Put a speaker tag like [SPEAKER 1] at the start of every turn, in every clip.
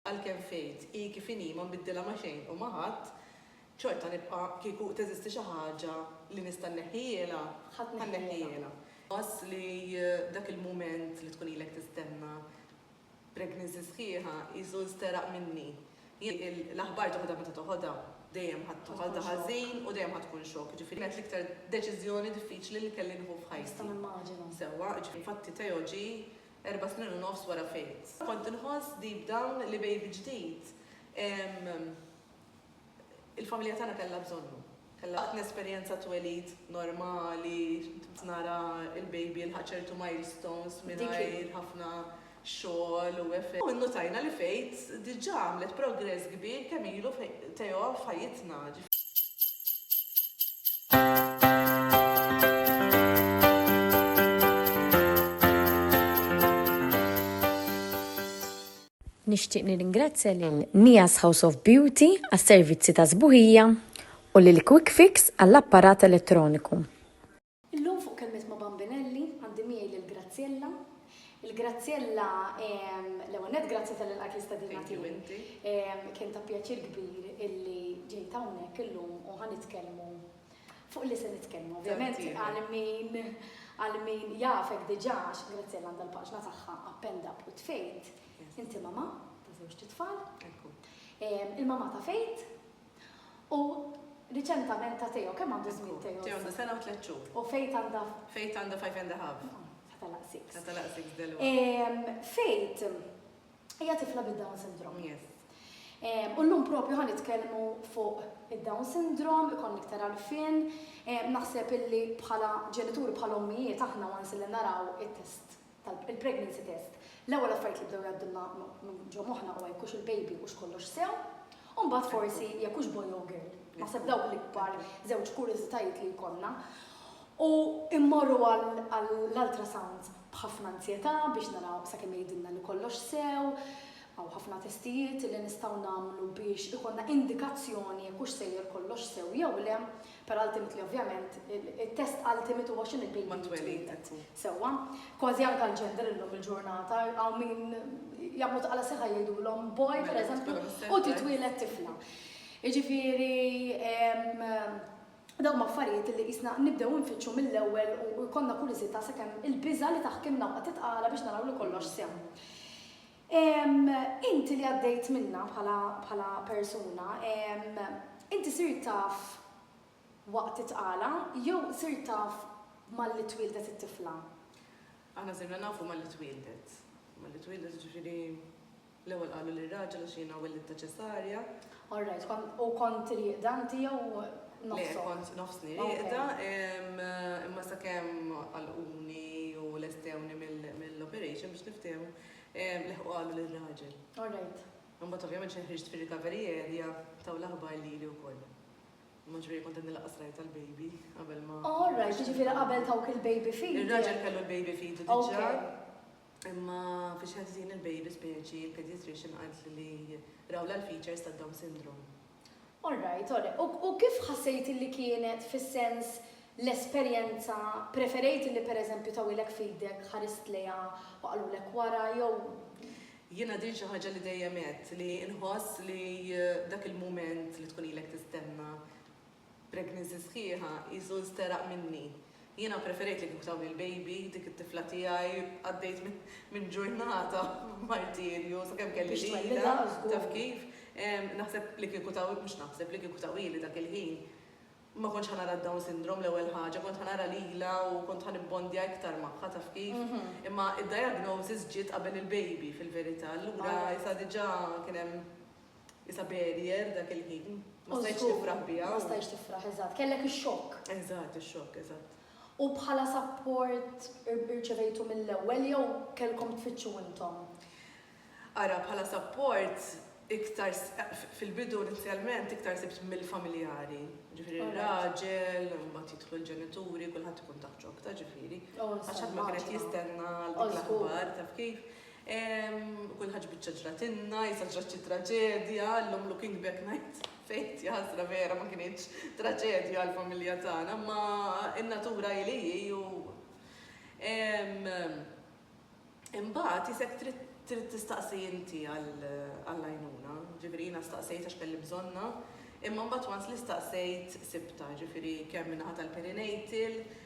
[SPEAKER 1] Għalkemm faith hi kif inhi ma nbiddilha ma' xejn u ma' ħadd, xorta nibqa' kieku teżisti xi ħaġa li nista' nneħħihielha, ħa nneħħihielha. Pass li dak il-mument li tkun ilek tistenna pregnancy sħiħa qisu nsteraq minni. Jien l-aħbar toħodha meta toħodha, dejjem ħa tkun waħda ħażin u dejjem ħa tkun xokk, jiġifieri kienet l-iktar deċiżjoni diffiċli li kelli nieħu f'ħajti. Nista' nimmaġina.
[SPEAKER 2] Sewwa, jiġifieri infatti
[SPEAKER 1] Theo ġie Erba' snin u nofs wara Faith. Kont inħoss deep down li baby ġdid il-familja tagħna kellha bżonnu. Waqt nesperjenza twelid normali, nara l-baby jilħaq ċertu milestones mingħajr ħafna xogħol u effort. Innutajna li Faith diġà għamlet progress kbir kemm ilu Theo f'ħajjitna.
[SPEAKER 3] Nixtieq nirringrazzja lil Nias House of Beauty għas-servizzi ta' sbuħija u lil Quick Fix għall-apparat elettroniku. Illum
[SPEAKER 2] fuq Kelmiet ma' Bambinelli għandi miegħi lil Graziella. Il-grazzjella, ehm, l-ewwel nett grazzi talli lqajt l-istedina tiegħi. Thank you inti. Ehm, kien ta' pjaċir kbir illi ġejt hawnhekk illum u ħa nitkellmu fuq li se nitkellmu. Ovvjament Tant iva. għal min għal min jafek diġà għax Grazzjella għandha l-paġna tagħha append up u tfejt. Yes. Inti mama ta' żewġ tfal. Ekku. Ehm, il-mama ta' fejt U riċentament ta' Teo, kemm għandu żmien Teo? Teo għandu sena u tliet xhur.
[SPEAKER 1] U Fejt għandha?
[SPEAKER 2] Fejt għandha five and a
[SPEAKER 1] half. Sa telaq
[SPEAKER 2] six. Sa telaq six delwaqt.
[SPEAKER 1] Fejt
[SPEAKER 2] hija tifla bid-Down syndrome. Yes.
[SPEAKER 1] U llum
[SPEAKER 2] propju ħa nitkellmu fuq id-Down syndrome, ikon iktar għarfien, naħseb illi bħala ġenituri bħala ommijiet aħna once li naraw it-test tal-pregnancy test, l-ewwel affarijiet li bdew jgħaddulna minn ġo moħħna huwa jekk hux il-baby hux kollox sew, u mbagħad forsi jekk hux boy jew girl. Naħseb dawk l-ikbar żewġ kurjużitajiet li jkollna. U immorru għall-ultrasound b'ħafna anzjetà biex naraw sakemm jgħidilna li kollox sew, hawn ħafna testijiet li nistgħu nagħmlu biex ikollna indikazzjoni jekk hux sejjer kollox sew jew le, Per ultimately ovvjament it-test ultimate huwa x'inhu l-baby li twieled. Sewwa. Kważi anke l-gender illum il-ġurnata hawn min jagħmlu ta' qala sieħa jgħidulhom boy per eżempju u titwieled tifla. Jiġifieri dawn huma affarijiet li qisna nibdew infittxu mill-ewwel u jkollna kurżità sakemm il-biża' li taħkimna u qatgħet qala biex naraw li kollox sew. Inti li għaddejt minnha bħala bħala persuna, inti sirt taf waqt it-tqala jew sirt taf malli twieldet it-tifla? Aħna
[SPEAKER 1] sirna nafu malli twieldet. Malli twieldet jiġifieri l-ewwel qalu lir-raġel għax jiena wellitta ċesarja. All right, kont
[SPEAKER 2] u kont rieqda inti jew nofsok? Le, kont nofsni
[SPEAKER 1] rieqda imma sakemm għalquni u lestewni mill-operation biex niftehmu, Leħqu qalu lir-raġel. All right.
[SPEAKER 2] Imbagħad ovvjament xejn
[SPEAKER 1] ħriġt fir-recovery area taw l-aħbar lili wkoll. Imma ġifieri kont qed nilaqas rajt tal-baby qabel ma. All right, jiġifieri
[SPEAKER 2] qabel tawk il-baby feed. Ir-raġel kellu l-baby
[SPEAKER 1] feed diġà. Imma fiex ħażin il-baby speċi il-pediatrician qalt li rawla l-features tad-Down syndrome. All right,
[SPEAKER 2] all right. U kif ħassejt li kienet fis-sens l-esperjenza, preferejt li pereżempju tawilek f'idek, ħarist lejha u qalulek wara jew. Jiena
[SPEAKER 1] din xi ħaġa li dejjem għedt li nħoss li dak il-mument li tkun ilek tistenna Pregnancy sħiħa hi żul steraq minni. Jiena ppreferejt li kieku tawli l-baby, dik it-tifla tiegħi, għaddejt minn ġurnata b'martirju sakemm kelli lilha, taf kif. Naħseb li kieku taw, mhux naħseb, li kieku tawhieli dak il-ħin, ma kontx ħa nara d-Down Syndrome l-ewwel ħaġa, kont ħa nara lilha u kont ħa nibbondja iktar magħha, taf kif. Imma d-diagnosis ġiet qabel il-baby fil-verità, allura issa diġà kien hemm. Isa barrier dak il-ħin. Ma stajtx tifraħ biha. Ma stajtx tifraħ, eżatt.
[SPEAKER 2] Kellek ix-xokk. Eżatt, ix-xokk,
[SPEAKER 1] eżatt. U bħala
[SPEAKER 2] sapport irċevejtu mill-ewwel jew kellkom tfittxu intom? Ara,
[SPEAKER 1] bħala sapport iktar fil-bidu inizjalment iktar sibt mill-familjari. Ġifieri r-raġel, imbagħad jidħlu l-ġenituri, kulħadd ikun taħt xokk ta' ġifieri. Għax ħadd ma kien qed jistenna l-aħbar taf kif. Kull ħaġa biċċa ġratilna, issa ġrat xi traġedja, llum looking back ngħid fejt jaħsra vera ma kinitx traġedja għall-familja tagħna, imma n-natura hi li hi u imbagħad isek trid trid tistaqsi inti għall-għajnuna, ġifieri jiena staqsejt għax kelli bżonnha, imma mbagħad once li staqsejt sibtha, ġifieri kemm min-naħa tal-perinatal,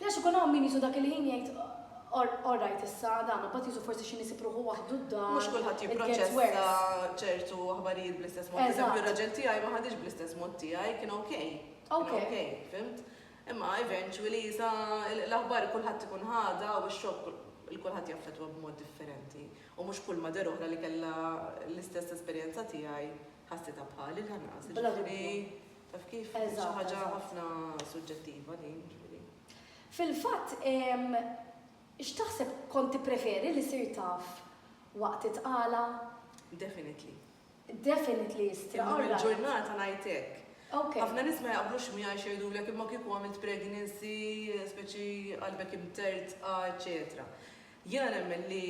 [SPEAKER 2] Għax ikun hawn min jisu dak il-ħin jgħid all right issa dan, u bat jisu forsi xi nisib ruħu waħdu d-dar. Mhux kulħadd jipproċessa
[SPEAKER 1] ċertu aħbarijiet bl-istess mod. Eżempju, raġel tiegħi ma ħadix bl-istess mod tiegħi, kien ok. Ok. Ok, fimt? Imma eventually sa l-aħbar kulħadd ikun ħada u x-xokk il-kulħadd jaffetwa b'mod differenti. U mhux kull ma der oħra li kellha l-istess esperjenza tiegħi ħassitha bħali l-ħanqas. Taf kif? Xi ħaġa ħafna suġġettiva din, ġifieri. Fil-fatt,
[SPEAKER 2] x'taħseb kont tippreferi li ssir taf waqt it-tqala? Definitely. Definitely istra. Illum il-ġurnata ngħid
[SPEAKER 1] hekk. Ħafna nies
[SPEAKER 2] ma jaqblux
[SPEAKER 1] miegħi x'jgħidulek imma kieku għamilt pregnancy, speċi qalbek imtertqa, eċċetera. Jiena nemmen li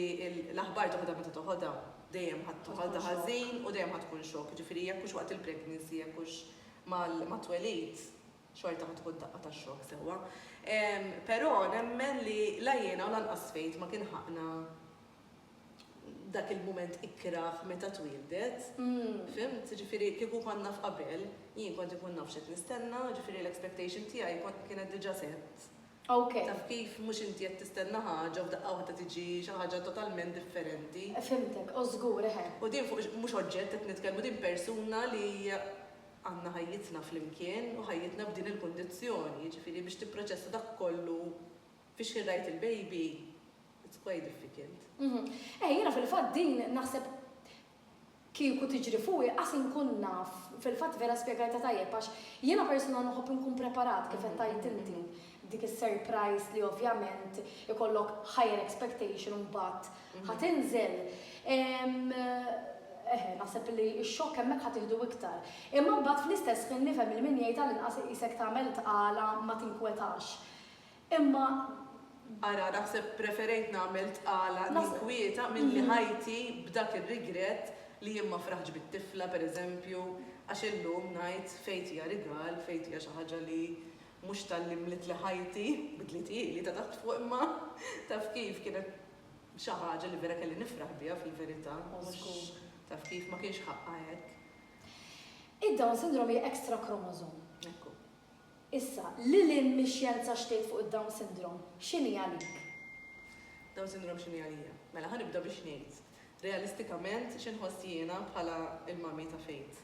[SPEAKER 1] l-aħbar toħodha meta toħodha, dejjem ħa toħodha ħażin u dejjem ħa tkun xokk, jiġifieri jekk hux waqt il-pregnancy, jekk hux mat-twelid, xorta ħa tkun daqqa ta' xokk sewwa. Però nemmen li la jiena u lanqas Faith ma kien ħaqqna dak il-mument ikrah meta twieldet, fimt? Jiġifieri kieku kont naf qabel, jien kont inkun naf x'qed nistenna, jiġifieri l-expectation tiegħi kienet diġa' set. Ok. Taf
[SPEAKER 2] kif, mhux inti
[SPEAKER 1] qed tistenna ħaġa u f'daqqa waħda tiġi xi ħaġa totalment differenti. Fhimtek, o żgur,
[SPEAKER 2] eħe. U din fuq mhux
[SPEAKER 1] oġġett qed nitkellmu, din persuna li għandna ħajjitna flimkien u ħajjitna f'din il-kundizzjoni, jiġifieri biex tipproċessa dak kollu fix-xħin rajt il-baby, it's quite difficult. Eħe, jiena
[SPEAKER 2] fil-fatt din naħseb kieku tiġri fuqi qas inkun naf, fil-fatt vera spjegajtha tajjeb għax jiena persuna nħobb inkun preparat kif qed tgħid inti, dik is-surprise li ovvjament ikollok higher expectation u mbagħad ħa tinżel, eħe naħseb li x-xokk hemmhekk ħa tieħdu iktar. Imma mbagħad fl-istess ħin nifhem il-min jgħid għall-inqas iqisek tagħmel tqala ma tinkwetax. Imma.
[SPEAKER 1] Ara, naħseb preferejt nagħmel tqala ninkwieta milli ħajti b'dak ir-rigrett li jien ma fraħtx bit-tifla, per eżempju, għax illum ngħid fejt hija rigal, fejt hija xi ħaġa li mhux talli mlitli ħajti, bidliet ili ta' taħt fuq imma, taf kif, kienet xi ħaġa li vera kelli nifraħ biha fil-verità, mhux, taf kif, ma kienx ħaqqha hekk.
[SPEAKER 2] Id-Down Syndrome hija extra chromosome. Ekku. Issa, lil hinn mix-xjenza x'tgħid fuq id-Down Syndrome? X'inhi għalik?
[SPEAKER 1] Down Syndrome x'inhi għalija? Mela, ħa nibda biex ngħid, realistikament, x'inħoss jiena bħala l-mommy ta' Faith.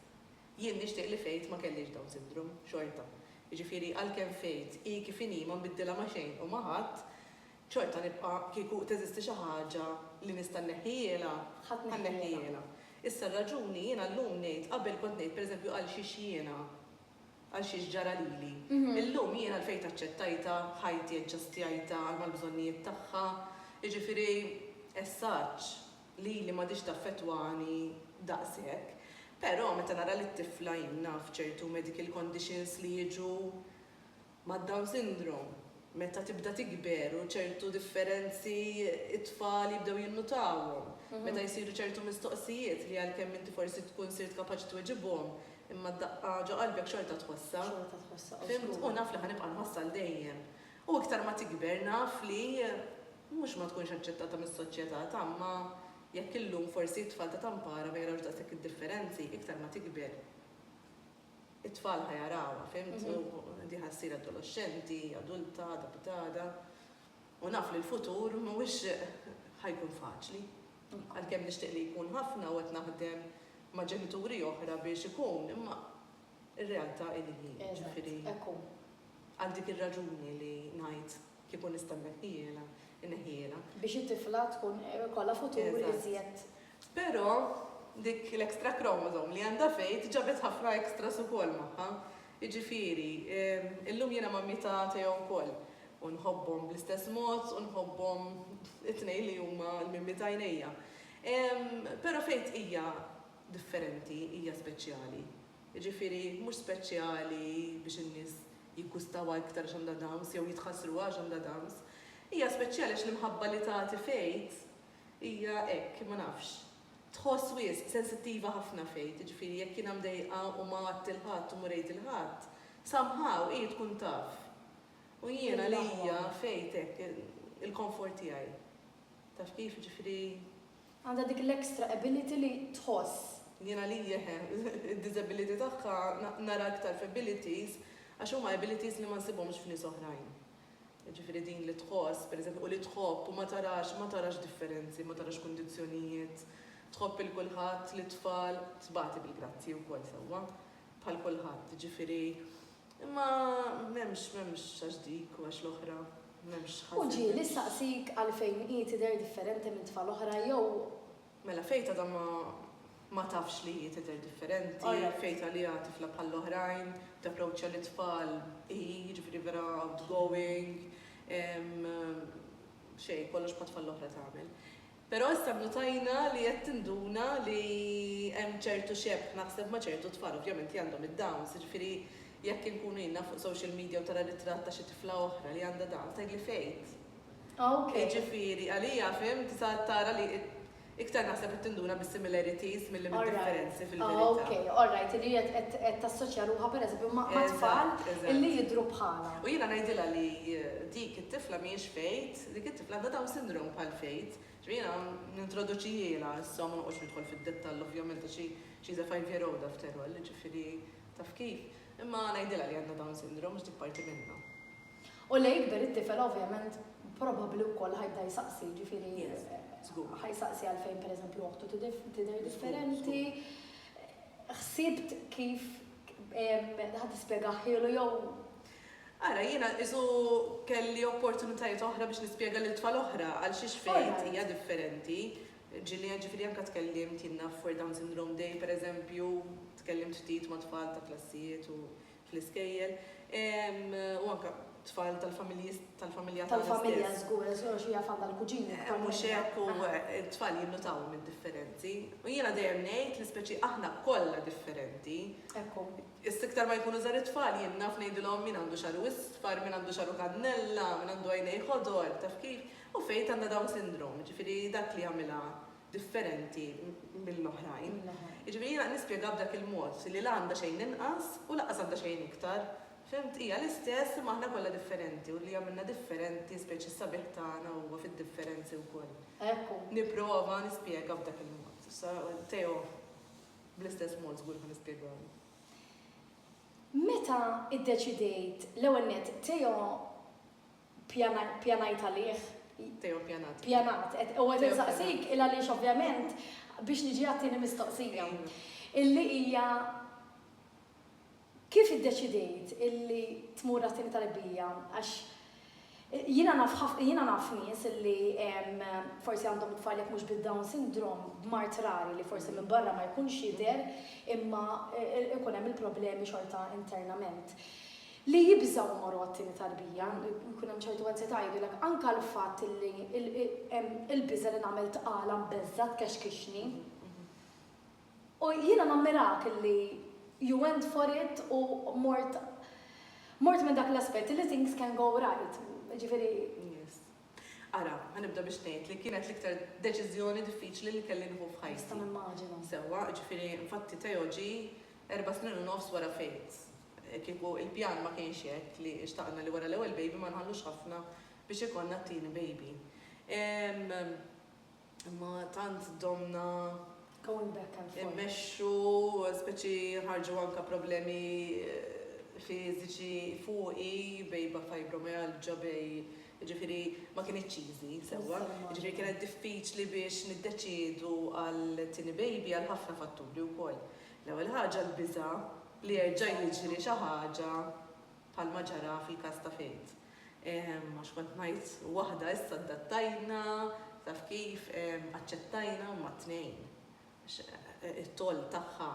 [SPEAKER 1] Jien nixtieq li Faith ma kellhiex Down Syndrome, xorta. Jiġifieri, għalkemm Faith hi kif inhi ma nbiddilha ma' xejn u ma' ħadd, xorta nibqa', kieku teżisti xi ħaġa li nista' nneħħihielha, ħa nneħħihielha. Issa, r-raġuni, jiena llum ngħid, qabel kont ngħid, pereżempju, għalxiex jiena. Għal xiex ġara lili. Illum jien għalfejn aċċettajtha, ħajti aġġastjajtha għal mal-bżonnijiet tagħha, jiġifieri essaġġ lili m'għadhiex taffettwani daqshekk. Però meta nara lit-tifla jien naf ċertu medical conditions li jiġu mad-down syndrome meta tibda tikber u ċertu differenzi t-tfal jibdew jinnutawhom meta jsiru ċertu mistoqsijiet li għalkemm inti forsi tkun sirt kapaċi tweġibhom Imma d-daqqa ġo qalbek xorta tħossha. Xorta tħossha, żgur. Fhimt? U naf li ħa nibqa' nħossha għal dejjem. U iktar ma tikber naf li mhux ma tkunx aċċettata mis-soċjetà, t'għamma jekk illum forsi t-tfal ta' Tampara ma jarawx daqshekk id-differenzi, iktar ma tikber it-tfal ħa jarawha, fhimt? U di ħa ssir adoloxxenti, adulta, għada bit għada. U naf li l-futur mhuwiex ħa jkun faċli. Għalkemm nixtieq li jkun ħafna u qed naħdem ma' ġenituri oħra biex ikun, imma r-realtà hi li hi. Ġifieri, għal dik ir-raġuni li ngħid kieku nista' nneħħihielha, inneħħihielha.
[SPEAKER 2] Biex it-tifla tkun ikollha futur iżjed. Però
[SPEAKER 1] dik l-extra chromosome li għandha fejn ġabet ħafna extras ukoll magħha. Jiġifieri, illum jiena ma' mita Teo wkoll, u nħobbhom bl-istess mod u nħobbhom it-tnejn li huma l-mimmi t'għajnejja. Però Faith hija differenti, hija speċjali. Jiġifieri, mhux speċjali biex in-nies jiggustawha iktar għax għandha Downs jew jitħassruha għax għandha Downs. Hija speċjali għax l-imħabba li tagħti Faith hija hekk, ma nafx. tħoss wisq sensittiva ħafna f'għid, jiġifieri jekk jiena mdejqa u ma għadt 'il ħadd u mur għid 'il ħadd, somehow hi tkun taf. U jien għalija f'għid hekk il-comfort tiegħi. Taf kif, jiġifieri. Għandha dik
[SPEAKER 2] l-extra ability li tħoss. Jien għalija eħe,
[SPEAKER 1] id-disability tagħha nara iktar f'abilities għax huma abilities li ma nsibhomx f'nies oħrajn. jiġifieri din li tħoss, pereżempju, u li tħobb u ma tarax, ma tarax differenzi, ma tarax kundizzjonijiet, tħobb 'il kulħadd, lit-tfal, tbati bil-grazzji wkoll sewwa bħal kulħadd, jiġifieri, imma m'hemmx, m'hemmx għax dik u għax l-oħra, m'hemmx ħażen. U ġieli
[SPEAKER 2] nsaqsik għalfejn hi tidher differenti minn tfal oħra jew Mela Faith
[SPEAKER 1] għadha ma ma tafx li hi tidher differenti, Faith għaliha tifla bħall-oħrajn, tapproċċja lit-tfal hi, jiġifieri vera outgoing, ehm xejn, kollox bħat-tfal l-oħra tagħmel. Però issa nnutajna li qed tinduna li hemm ċertu xebh naħseb ma' ċertu tfal, ovvjament hi għandhom id-Downs, jiġifieri jekk inkunu jiena fuq social media u tara ritratt ta' xi tifla oħra li għandha Downs tgħidli Faith, Ah ok. Jiġifieri għalija fhimt sa tara li iktar naħseb li tinduna bis-similarities milli mid-differenzi fil-verità. Alright. Ah ok. Alright li hi qed qed
[SPEAKER 2] tassoċja ruħha per eżempju ma' ma' tfal illi jidhru bħalha. U jiena ngħidilha li
[SPEAKER 1] dik it-tifla mhijiex Faith, dik it-tifla għandha Down Syndrome bħal Faith. Ġifieri jiena nintroduċihielha issa u ma noqgħodx nidħol fid-dettall ovvjament għax hi she's a five year old after all jiġifieri taf kif. Imma ngħidilha li għandha Down Syndrome għax dik parti minnha. U li
[SPEAKER 2] jikber it-tifel ovvjament probabbli wkoll ħajbda jsaqsi, jiġifieri ħajsaqsi għalfejn pereżempju oħtu tidher differenti. Ħsibt kif ħa tispjegahhielu jew Ara,
[SPEAKER 1] jiena qisu kelli opportunitajiet oħra biex nispjega lil tfal oħra għal xiex Faith hija differenti. Ġieli ġifieri anke tkellimt jiena f'World Down Syndrome Day pereżempju, tkellimt ftit ma' tfal ta' klassijiet u fl-iskejjel u anke tfal tal-familji tal-familja tagħna tal-familja żgur
[SPEAKER 2] għax xorta xejn għandha l-kuġini eh, mhux hekk u
[SPEAKER 1] t-tfal jinnutaw mid-differenzi u jiena dejjem ngħid li speċi aħna kollha differenti ekku
[SPEAKER 2] Istiktar ma jkunu
[SPEAKER 1] żar it-tfal jien naf ngħidilhom min għandu xaru isfar, min għandu xaru kannella, min għandu għajnej ħodor, taf kif, u fejt għandha dawn sindrom, ġifieri dak li għamilha differenti mill-oħrajn. Jiġifieri jiena qed nispjega b'dak il-mod li la għandha xejn inqas u lanqas għandha xejn iktar. Fhimt? Hija l-istess imma aħna kollha differenti u li jagħmilna differenti, speċi s-sabiħ tagħna huwa fid-differenzi wkoll. Hekk hu. Nipprova
[SPEAKER 2] nispjega
[SPEAKER 1] b'dak il-mod. Issa Theo bl-istess mod żgur ħa nispjegalu. Meta
[SPEAKER 2] iddeċidejt, l-ewwel nett, Theo, Pjanajt għalih. Teo pjanat.
[SPEAKER 1] Pjanat. U qed
[SPEAKER 2] insaqsik il għaliex ovvjament biex niġi għat-tieni mistoqsija. Illi hija kif iddeċidejt illi tmur għat-tieni tarbija għax jiena naf jiena naf nies illi forsi għandhom it-tfal jekk mhux bid-Down Syndrome b'mard rari li forsi minn barra ma jkunx jidher imma ikun hemm il-problemi xorta internament. li jibżgħu jmorru għat-tieni tarbija, jkun hemm ċertu ansjetà, jgħidulek anke l-fatt li hemm il-biża' li nagħmel tqala mbeżżgħa tkexkixni. U jiena nammirak li you went for it u mort mort minn dak l-aspett li things can go right, jiġifieri. Yes.
[SPEAKER 1] Ara, ħa nibda biex ngħid li kienet l-iktar deċiżjoni diffiċli li kelli nieħu f'ħajti. Nista' nimmaġina. Sewwa,
[SPEAKER 2] jiġifieri
[SPEAKER 1] infatti Teo ġie erba' snin u nofs wara Faith. Kieku l-pjan ma kienx hekk, li xtaqna li wara l-ewwel baby ma nħallux ħafna biex ikollna t-tieni baby. Imma tant domna. Going back
[SPEAKER 2] and forth. Immexxu,
[SPEAKER 1] speċi ħarġu anke problemi fiżiċi fuqi, bejba fibromyalgia, bej, jiġifieri ma kinitx easy sewwa. Jiġifieri kienet diffiċli biex niddeċiedu għal tieni baby għal ħafna fatturi wkoll. L-ewwel ħaġa l-biża' li jerġa' jiġri xi ħaġa bħalma ġara fil-każ ta' Faith. Għax kont ngħid waħda issa addattajna, taf kif, aċċettajna huma t-tnejn. Għax it-toll tagħha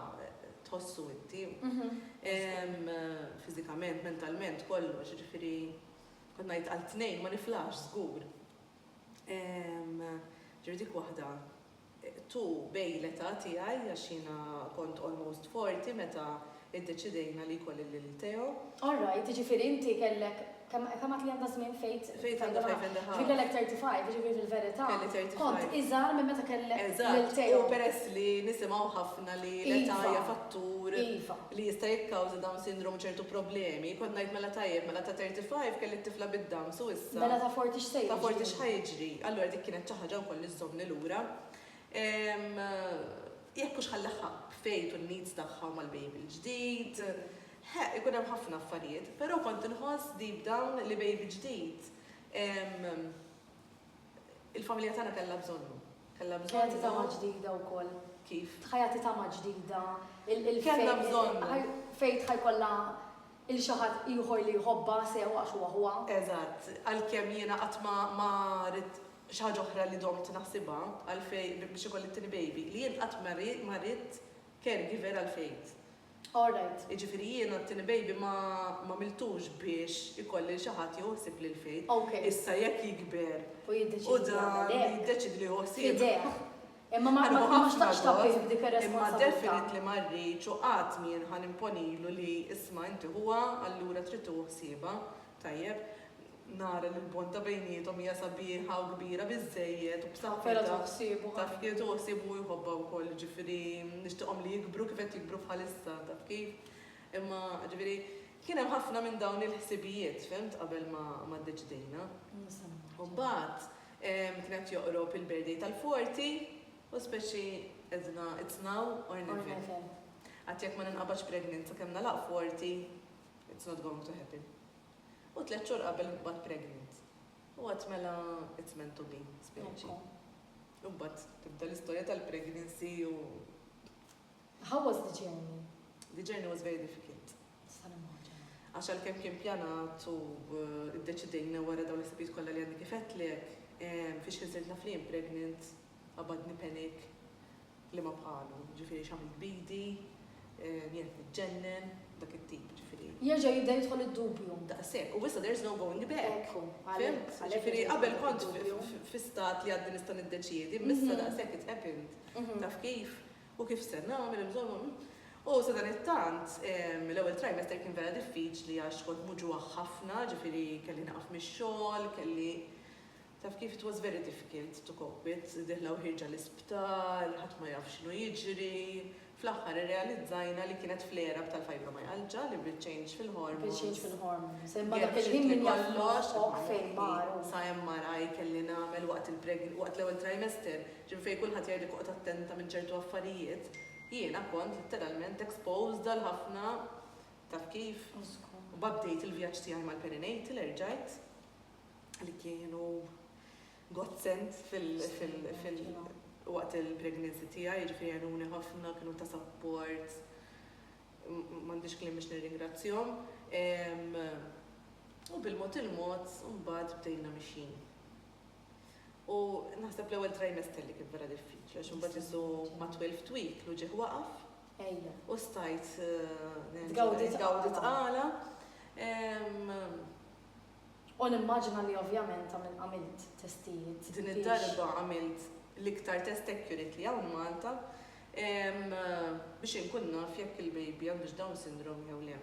[SPEAKER 1] tħossu inti. Fiżikament, mentalment, kollox, ġifieri kont ngħid għal tnejn ma niflaħx żgur. Ġifieri dik waħda tu bejn l-età tiegħi għax jiena kont almost forty meta iddeċidejna li jkolli lil Theo. All right, jiġifieri
[SPEAKER 2] inti kellek, kemm kemm għedt li għandha żmien Faith? Faith għandha five and a half. Ġifieri
[SPEAKER 1] kellek thirty five, jiġifieri
[SPEAKER 2] fil-verità kont
[SPEAKER 1] iżgħar minn meta
[SPEAKER 2] kellek lil Theo. Eżatt, u peress
[SPEAKER 1] li nisimgħu ħafna li l-età hija fattur. Iva. li jista'
[SPEAKER 2] jikkawża
[SPEAKER 1] Down Syndrome ċertu problemi, kont ngħid mela tajjeb, mela ta' 35 kelli t-tifla bid-Downs u issa. Mela ta' 40 x'se jiġri?
[SPEAKER 2] Ta' 40 x'ħa jiġri?
[SPEAKER 1] Allura dik kienet xi ħaġa wkoll li żżommni lura. Jekk hux ħa nlaħħaq b'Faith u n-needs tagħha u mal-baby l-ġdid, ħe, ikun hemm ħafna affarijiet, però kont inħoss deep down li baby ġdid Il-familja tagħna kellha bżonnu. Kellha bżonnu. Ħajati tama
[SPEAKER 2] ġdida wkoll. Kif? Ħajati
[SPEAKER 1] tama
[SPEAKER 2] ġdida. Kellha
[SPEAKER 1] bżonnu. Fejt ħajkollha
[SPEAKER 2] il xi ħadd ieħor li jħobbha sew għax huwa ħuha. Eżatt. Għalkemm
[SPEAKER 1] jiena qatt ma ridt xi ħaġa oħra li domt naħsibha għal Fejt biex ikolli t-tieni baby, li jien qatt ma ridt caregiver għal Fejt. All right.
[SPEAKER 2] Jiġifieri jiena t-tieni
[SPEAKER 1] baby ma għamiltux biex ikolli lil xi ħadd jieħu ħsieb lil Faith. Ok. Issa jekk
[SPEAKER 2] jikber
[SPEAKER 1] U jiddeċiedi u dan
[SPEAKER 2] jagħmel hekk. jiddeċiedi
[SPEAKER 1] li jieħu ħsieb. F'idejh. Imma ma
[SPEAKER 2] Ħaniħu ma ħafna xtaqtx tabbih gost, b'dik Imma ir-responsabbiltà.
[SPEAKER 1] definitely ma
[SPEAKER 2] rridx
[SPEAKER 1] u qatt m'jien ħa nimponilu li isma' inti ħuha allura trid tieħu ħsiebha. tajjeb, nara li l-bond bejniethom hija sabiħa u kbira biżżejjed u b'saħħitha, taf kif, tieħu
[SPEAKER 2] ħsieb u
[SPEAKER 1] jħobbha wkoll, jiġifieri nixtieqhom li jikbru kif qed jikbru bħalissa, taf kif. Imma, jiġifieri, kien hemm ħafna minn dawn il-ħsibijiet, fihimt, qabel ma ddeċidejna. U mbagħad kien qed joqrob il-birthday tal-forti u speċi għedna it's now or never. Għad jekk ma ninqabadx pregnant sakemm nagħlaq forti, It's not going to happen. U tliet xhur qabel nqbad pregnant. U għad mela it's meant to be, spiaċi. U mbagħad tibda l-istorja tal-pregnancy u.
[SPEAKER 2] How was the journey? The journey was
[SPEAKER 1] very difficult. Għax għal kem kien pjanat u id-deċidejna wara dawn l-istabijiet kollha li għandi kifetlek, fiex kien sirt naf li pregnant, qabadni panic li ma bħalu, jiġifieri x'għamilt b'idi, li qed niġġennen, dak it-tip, jiġifieri. Jerġa' jibda jidħol
[SPEAKER 2] id-dubju. Daqshekk, u issa there's
[SPEAKER 1] no going back. Ekku, għalhekk, għalhekk jiġi jidħol id-dubju.
[SPEAKER 2] Jiġifieri
[SPEAKER 1] qabel kont fi stat li għadni nista' niddeċiedi, imma issa daqshekk it's happened. Taf kif? U kif se nagħmel, insomma, hm. U sadanittant, l-ewwel trimester kien vera diffiċli għax kont muġugħa ħafna, jiġifieri kelli nieqaf mix-xogħol, kelli, Taf kif it was very difficult to cope with, dieħla u ħierġa l-isptar, ħadd ma jaf x'inhu jiġri. Fl-aħħar irrealizzajna li kienet flare-up tal-fibromyalgia li bit-change fil-hormones. Bit-change fil-hormones.
[SPEAKER 2] Imma dak il-ħin min jaf moħħok fejn mar. Sa MRI
[SPEAKER 1] kelli nagħmel waqt l-ewwel trimester, ġifieri fejn kulħadd jgħidlek oqgħod attenta minn ċertu affarijiet, jiena kont litteralment exposed għal ħafna, taf kif? U żgur. Mbagħad bdejt il-vjaġġ tiegħi mal-perinatal, erġajt. li kienu godsend waqt il-pregnancy tiegħi, jiġifieri għenuni ħafna, kienu ta' sapport, m'għandix kliem biex nirringrazzjahom. U bil-mod il-mod mbagħad bdejna mixjin. U naħseb l-ewwel trimester li kien vera diffiċli għax imbagħad isu ma' 12 week lu ġieħ waqaf. Ejja. U stajt. Tgawdi tqala. Tgawdi tqala.
[SPEAKER 2] U nimmaġina li ovvjament ta' min għamilt testijiet. Din id-darba
[SPEAKER 1] għamilt l-iktar test accurate li hawn Malta biex inkun naf jekk il-baby għandux Down syndrome jew le.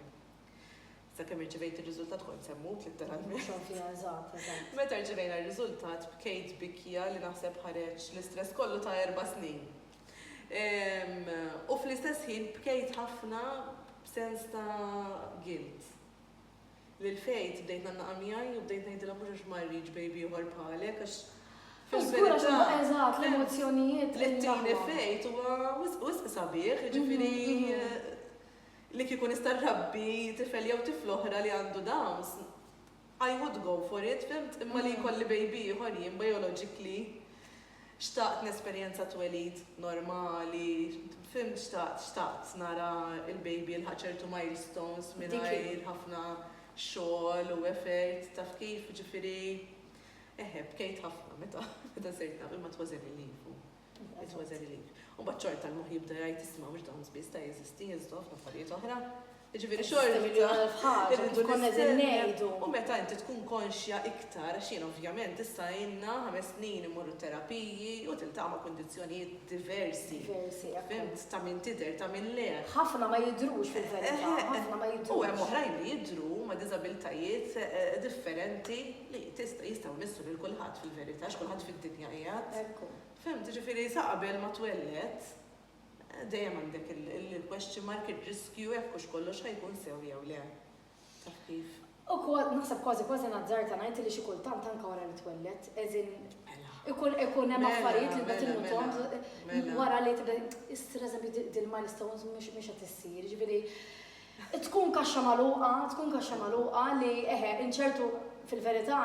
[SPEAKER 1] Sakemm irċivejt ir-riżultat kont se mmut litteralment. Xorta ja, eżatt, eżatt. Meta rċivejna r-riżultat bkejt bikja li naħseb ħareġ l-istress kollu ta' erba' snin. U fl-istess ħin bkejt ħafna b'sens ta' guilt. Lil Faith bdejt ngħannaqha miegħi u bdejt ngħidilha mhux għax ma rridx baby ieħor bħalek għax
[SPEAKER 2] fil-verità li ttini Faith
[SPEAKER 1] huwa wisq sabiħ, jiġifieri li kieku nista' nrabbi tifel jew tifla oħra li għandu Downs I would go for it, fimt? Imma li jkolli baby ieħor jien biologically. Xtaqt nesperjenza twelid normali, fimt xtaqt, xtaqt nara il-baby jilħaq ċertu milestones mingħajr ħafna xogħol u effort, taf kif, jiġifieri, eħe, bkejt ħafna meta sirt naf, imma it was a relief u it was a relief. U mbagħad xorta l-moħħ jibda jgħid isma' mhux dawn biss ta' jeżisti, jeżistu ħafna affarijiet oħra. Jiġifieri xorta irridu
[SPEAKER 2] nistennew u meta inti tkun
[SPEAKER 1] konxja iktar għax jiena ovvjament issa ilna ħames snin immur it-terapiji u tiltaqa' ma' kundizzjonijiet diversi, fihimt, ta' min tidher ta' min le. Ħafna ma jidhrux
[SPEAKER 2] fil-verità, ħafna ma jidhrux. U hemm oħrajn li
[SPEAKER 1] jidhru huma diżabiltajiet differenti li jistgħu jmissu lil kulħadd fil-verità għax kulħadd fid-dinja qiegħed. Fihimt, jiġifieri sa qabel ma twelled, Dejjem għandek il-question mark, ir-riskju jekk hux kollox ħa jkun sew jew le. Taf kif? U kważi, naħseb
[SPEAKER 2] kważi kważi nazzarta ngħid li xi kultant anke wara li twelled, as in mela. ikun ikun hemm mela, affarijiet li bad mela, innutom wara li tibda issir eżempju dil-milestones mhux qed issir, ġifieri tkun kaxxa magħluqa, tkun kaxxa magħluqa li eħe inċertu fil-verità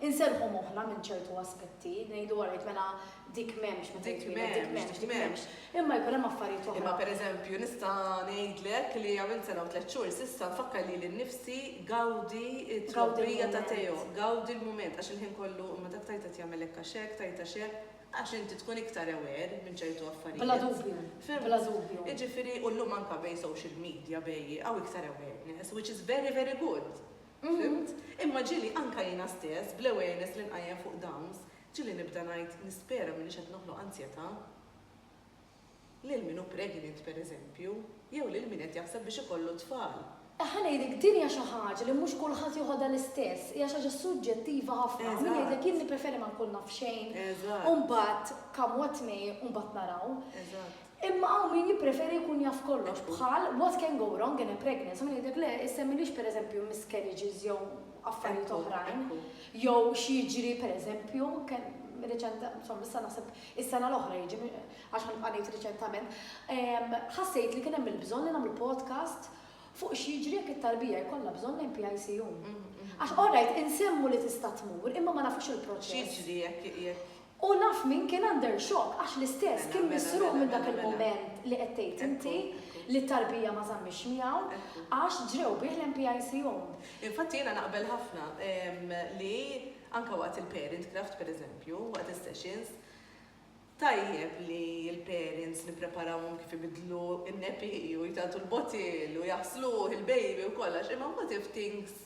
[SPEAKER 2] Inserrħu moħħna minn ċertu aspetti, ngħidu all right mela dik m'hemmx meta jitwieled, dik m'hemmx, dik m'hemmx. Imma jkun hemm affarijiet oħra. Imma pereżempju nista'
[SPEAKER 1] ngħidlek li għamilt sena u tliet xhur s'issa nfakkar lili nnifsi gawdi t-trobbija ta' Teo, gawdi l-mument għax il-ħin kollu imma dak Tayta qed jagħmel hekk għax hekk, Tayta għax hekk, għax inti tkun iktar aware minn ċertu affarijiet. Bla dubju, bla
[SPEAKER 2] dubju. Jiġifieri u llum anke
[SPEAKER 1] bejn social media bejn hawn iktar awareness which is very very good. Fimt? Imma ġieli anke jiena stess, bl-awareness li nqajjem fuq downs, ġieli nibda ngħid nispera m'iniex qed noħloq anzjetà lil min hu pregnant, pereżempju, jew lil min qed jaħseb biex ikollu t-tfal. Ħa ngħidlek, din
[SPEAKER 2] hija xi ħaġa li mhux kulħadd joħodha l-istess, hija xi ħaġa suġġettiva ħafna. Min jgħidlek jien nippreferi ma nkun naf xejn u mbagħad come what may u mbagħad naraw. Imma hawn min jippreferi jkun jaf kollox, bħal what can go wrong in a pregnancy, min jgħidlek le, issemmilix pereżempju miscarriages jew affarijiet oħrajn, jew x'jiġri pereżempju, insomma issa naħseb is-sena l-oħra jiġri, għax ħa nibqa' ngħid riċentament, ħassejt li kien hemm il-bżonn li nagħmlu podcast fuq x'jiġri jekk it-tarbija jkollha bżonn lejn PICU. Għax alright, insemmu li tista' tmur, imma ma nafux il-proċess. X'jiġri jekk
[SPEAKER 1] U naf min kien
[SPEAKER 2] under shock għax l-istess kien misruq minn dak il-mument li qed tgħid inti li t-tarbija ma żammitx miegħu għax ġrew bih l-MPIC Home. Infatti jiena
[SPEAKER 1] naqbel ħafna li anke waqt il-parent craft per eżempju, waqt is-sessions, tajjeb li l-parents nippreparawhom kif ibiddlu n-nepi u jtagħtu l-bottle u jaħsluh il-baby u kollox imma what if things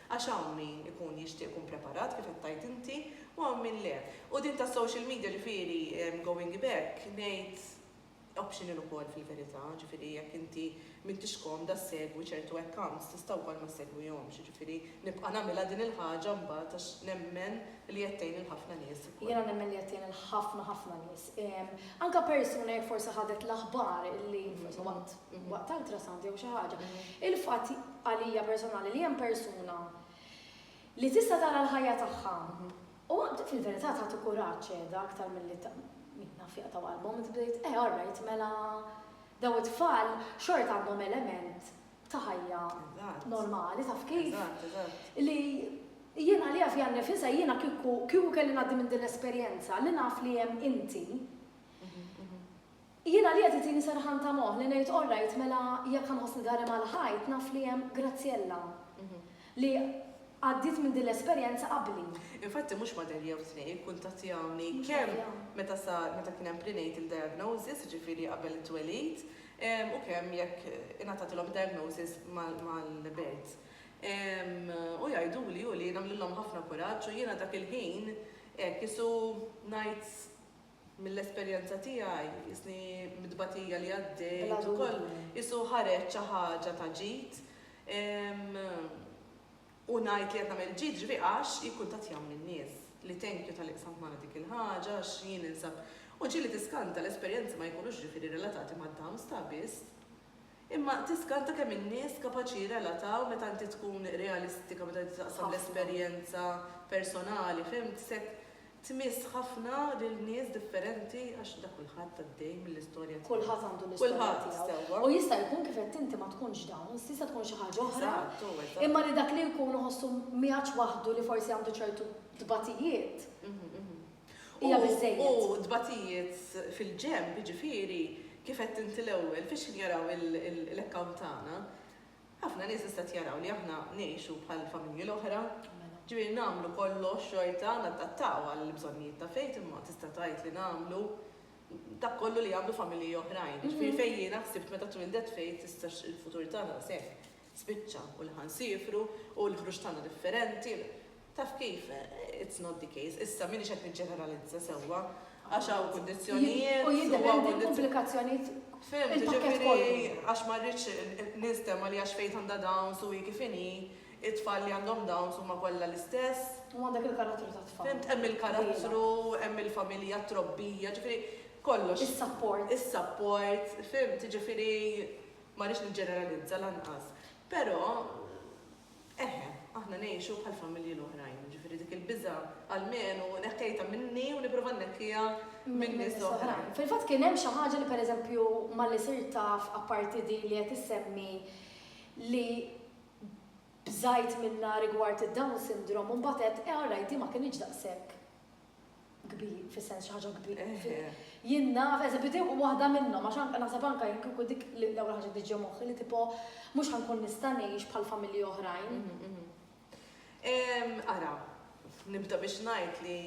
[SPEAKER 1] Għax hawn min ikun jixtieq ikun preparat kif qed tgħid inti u hawn min le. U din tas-social media ġifieri going back ngħid optional ukoll fil-verità, ġifieri jekk inti m'intix komda ssegwi ċertu accounts tista' wkoll ma ssegwihomx, jiġifieri nibqa' nagħmilha din il-ħaġa mbagħad għax nemmen li qed tgħin lil ħafna nies ukoll. Jiena nemmen li qed tgħin lil
[SPEAKER 2] ħafna ħafna nies. Anke persuna jekk forsi ħadet l-aħbar li waqt. waqt ultrasound jew xi ħaġa. Il-fatt għalija personali li hemm persuna li tista' tara l-ħajja tagħha u fil-verità tagħti kuraġġ qiegħda aktar milli min naf jaqtgħu qalbhom inti bdejt eh all right mela dawn it-tfal xorta għandhom element ta' ħajja normali taf kif li jiena li għafja nifisa jiena kieku kelli ngħaddi minn din l-esperjenza li naf li hemm inti Jiena li qed iġini serħan ta' moħħ li ngħid orrajt mela jekk ħa nħossni dgħari mal-ħajt naf li hemm Graziella li għaddiet minn din l-esperjenza qabli. Infatti mhux materja
[SPEAKER 1] jew tnejn ikkuntattjawni kemm meta sar meta kien hemm prenatal diagnosis, jiġifieri qabel it-twelid, u kemm jekk ingħatatilhom id-diagnosis mal-birth. U jgħiduli u li nagħmlilhom ħafna kuraġġ u jiena dak il-ħin hekk qisu ngħid Mill-esperjenza tiegħi, is-snin mit-tbatija li għaddejt ukoll qisu ħareġt xi ħaġa ta' ġid. U ngħid li qed nagħmel ġid ġifi għax jikkuntattjawni n-nies li thank you talli qsamt magħna dik il-ħaġa għax jien ninsab. U ġieli tiskanta l-esperjenzi ma jkunux ġifieri relatati mad-downs ta' biss. Imma tiskanta kemm in-nies kapaċi jirrelataw meta inti tkun realistika meta inti taqsam l-esperjenza personali, fhimt, se tmiss ħafna lil nies differenti għax da kulħadd għaddej mill-istorja tiegħu. Kulħadd għandu l-istorja
[SPEAKER 2] tiegħu. U jista' jkun kif għedt inti ma tkunx dawn, tista' tkun xi ħaġa oħra, imma li dak li jkun iħossu migħaġ waħdu li forsi għandu ċertu tbatijiet, hija biżżejjed. U t-tbatijiet
[SPEAKER 1] fil-ġenb, jiġifieri, kif għedt inti l-ewwel, fiex qed jaraw l-account tagħna? Ħafna nies issa qed jaraw li aħna ngħixu bħal familji l-oħra, ġifieri nagħmlu kollox xorta, nadattaw għall-bżonnijiet ta' fejt imma tista' tgħid li nagħmlu dak kollu li jagħmlu familji oħrajn. Jiġifieri fejn jiena ħsibt meta twildet fejt issa x-futur tagħna se spiċċa u li ħa nsiefru u l-ħruġ tagħna differenti, taf kif, it's not the case. Issa m'iniex qed niġġeneralizza sewwa għax hawn kundizzjonijiet u jiddependi
[SPEAKER 2] l-pubblikazzjonijiet Fimt, ġifieri
[SPEAKER 1] għax ma rridx nistema li għax fejt għandha dawns u hi kif inhi, it-tfal li għandhom dawns huma kollha l-istess. U għandek il-karattru
[SPEAKER 2] tat-tfal. Fimt, hemm il-karattru,
[SPEAKER 1] hemm il-familja, t-trobbija, ġifieri kollox. Is-support.
[SPEAKER 2] Is-support,
[SPEAKER 1] fimt, ġifieri Ma rridx niġġeneralizza lanqas, però eħe, aħna ngħixu bħall-familji l-oħrajn, jiġifieri dik il-biża' almenu neħkejtha minni u nipprova nneħħiha minn nies oħra. Fil-fatt kien hemm xi ħaġa
[SPEAKER 2] li pereżempju malli sirt taf apparti din li qed issemmi li bżajt minnha rigward id-Down Syndrome u mbagħad għedt, eh alright din ma kinitx daqshekk kbir, fis-sens xi ħaġa kbir. Jien naf, eżempju, din waħda minnhom, għax anke naħseb anke jien kieku dik l-ewwel ħaġa li ġie moħħi li tipo mhux ħankun nista' ngħix bħal familji oħrajn. Mhm, mhm.
[SPEAKER 1] Ara, nibda biex ngħid li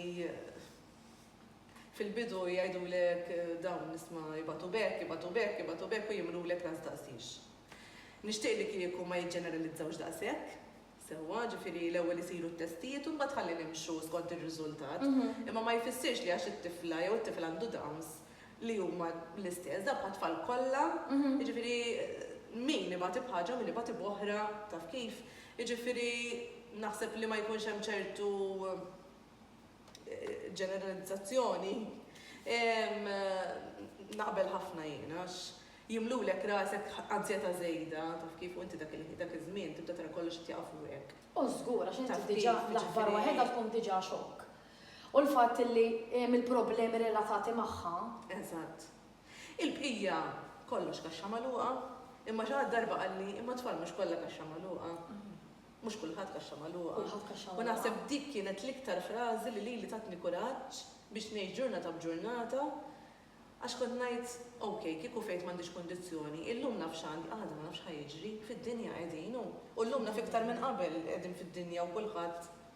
[SPEAKER 1] fil-bidu jgħidu lek eh, dawn nisma jibatu bek, jibatu bek, jibatu bek u jimlu lek las daqsix. Nishtiq li kieku ma jġeneralizzawx daqsek, sewwa, ġifieri l-ewwel isiru t-testijiet u mbagħad ħalli nimxu skont ir-riżultat, imma ma jfissirx li għax it-tifla jew it-tifel għandu Downs li huma l-istess, dawk għat-tfal kollha, jiġifieri min ibati b'ħaġa u min ibati b'oħra taf kif, jiġifieri naħseb li ma jkunx hemm ċertu, ġeneralizzazzjoni, naqbel ħafna jien għax jimlulek rasek anzjetà żejda, taf kif, u inti dak iż-żmien tibda tara kollox qed jaqa' fuqek. O żgur, għax inti
[SPEAKER 2] diġà l-aħbar waħedha tkun diġà xokk. U l-fatt li hemm il-problemi relatati magħha. Eżatt.
[SPEAKER 1] Il-bqija kollox kaxxa magħluqa, imma xi ħadd darba qalli imma t-tfal mhux kollha kaxxa magħluqa. Mhux kulħadd kaxxa magħluqa. Kulħadd kaxxa magħluqa. U naħseb dik kienet l-iktar frażi li lili tatni kuraġġ biex ngħix ġurnata b'ġurnata għax kont ngħid, ok, kieku fejt m'għandix kundizzjoni, illum naf x'għandi, għada ma nafx x'ħa jiġri, fid-dinja qegħdin u llum naf iktar minn qabel li qegħdin fid-dinja u kulħadd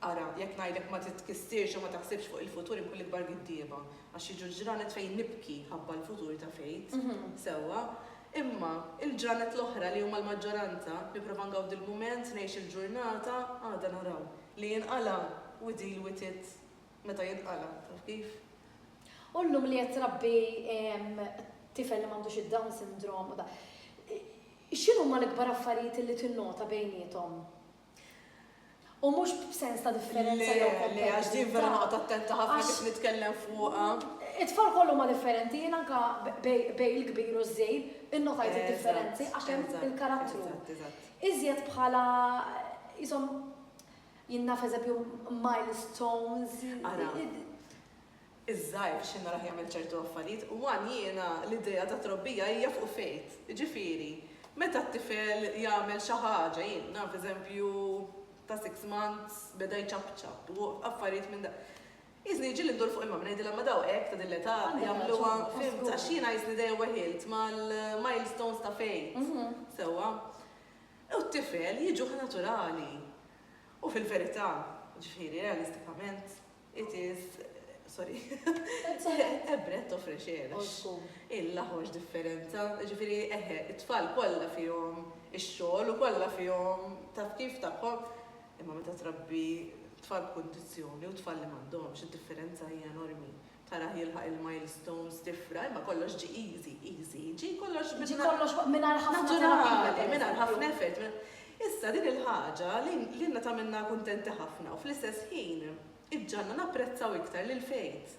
[SPEAKER 1] Ara, jekk ngħidlek ma titkissirx u ma taħsibx fuq il-futur inkun l-ikbar giddieba, għax jiġu l-ġranet fejn nibki ħabba l-futur ta' Faith, sewwa, imma il-ġranet l-oħra li huma l-maġġoranza, nipprova ngawdi l-mument, ngħix il-ġurnata, għada naraw. Li jinqala' u deal with it meta jinqala', taf kif? U llum
[SPEAKER 2] li qed trabbi tifel li m'għandux id-Down Syndrome u dak, x'inhuma l-ikbar affarijiet li tinnota bejniethom? U mhux b'sens ta' differenza jew kompetitività. Le, le, għax din vera
[SPEAKER 1] noqgħod attenta ħafna kif nitkellem fuqha. It-tfal kollha
[SPEAKER 2] huma differenti, jien anke bejn il-kbir u ż-żgħir innotajt id-differenzi għax hemm il-karattru. Iżjed bħala qishom jien naf eżempju milestones. Ara.
[SPEAKER 1] iż-żgħir x'inhu raħ jagħmel ċertu affarijiet u għan jiena l-idea ta' trobbija hija fuq faith, jiġifieri meta t-tifel jagħmel xi ħaġa, jien naf eżempju ta' six months beda jċapċap u affarijiet minn dawn. Jisni jiġili ndur fuq il-mami ngħidilha ma daw hekk ta' din l-età jagħmluha, fimt, għax jiena jisni dejjem weħilt mal-milestones ta' faith, sewwa? U t-tifel jiġuh naturali. U fil-verità, jiġifieri realistikament, It is, sorry, a breath of fresh air. Old school. Illa ħoġ differenza, ġifiri, eħe, it-tfal kollha fihom ix-xogħol u kollha fihom taf kif tagħhom, imma meta trabbi tfal b'kundizzjoni u tfal li m'għandhomx, id-differenza hija enormi. Tarah jilħaq il-milestones tifra, imma kollox ġi easy, easy, ġi kollox Ġi kollox mingħajr ħafna
[SPEAKER 2] terapija. naturali, mingħajr
[SPEAKER 1] ħafna effort. Issa, din il-ħaġa lilna tagħmilna kuntenti ħafna u fl-istess ħin iġġagħalna napprezzaw iktar lil Faith,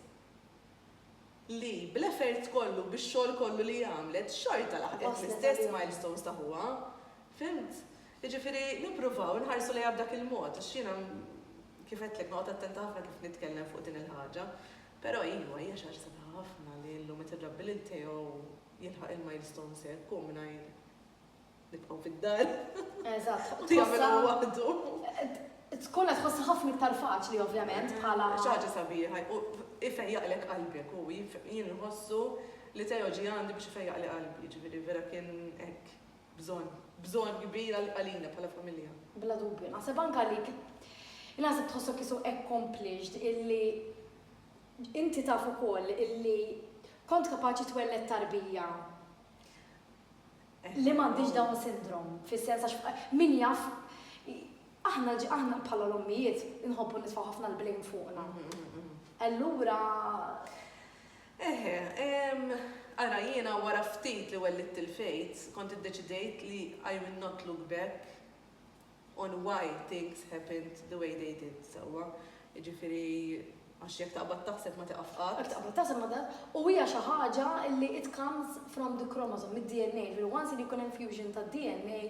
[SPEAKER 1] li bl-effort kollu u bix-xogħol kollu li għamlet, xorta laħqet l-istess milestones ta' ħuha. Fhimt? Jiġifieri, nippruvaw inħarsu lejha b'dak il-mod, għax jiena, kif għedtlek, noqgħod attenta ħafna kif nitkellem fuq din il-ħaġa. Però iva, hija xi ħaġa sabiħa ħafna li llum qed irrabbi lil Theo jilħaq il-milestones hekk hu mingħajr. Nibqgħu fid-dar. Eżatt.
[SPEAKER 2] U jagħmilha waħdu.
[SPEAKER 1] Tkun
[SPEAKER 2] qed tħossha ħafna iktar faċli ovvjament bħala. Xi ħaġa sabiħa,
[SPEAKER 1] u ifejjaqlek qalbek u jien nħossu li Teo ġie għandi biex ifejjaqli qalbi, ġifieri vera kien hekk bżonn, bżonn kbir għalina bħala familja. Bla dubju, naħseb
[SPEAKER 2] anke li naħseb tħossok isu accomplished illi inti taf ukoll illi kont kapaċi twelled tarbija li m'għandhiex Down syndrome, fis-sens għax min jaf aħna aħna bħala l-ommijiet inħobbu nitfgħu ħafna l-blame fuqna. Allura
[SPEAKER 1] Eħe, ara jiena wara ftit li wellitt il-fejt, kont iddeċidejt li I will not look back on why things happened the way they did sewwa, jiġifieri għax jekk taqbad taħseb ma tieqaf qatt. Jekk taqbad taħseb ma tieqaf
[SPEAKER 2] u hija xi ħaġa li it comes from the chromosome, mid-DNA, jiġifieri once li jkun hemm fusion tad-DNA,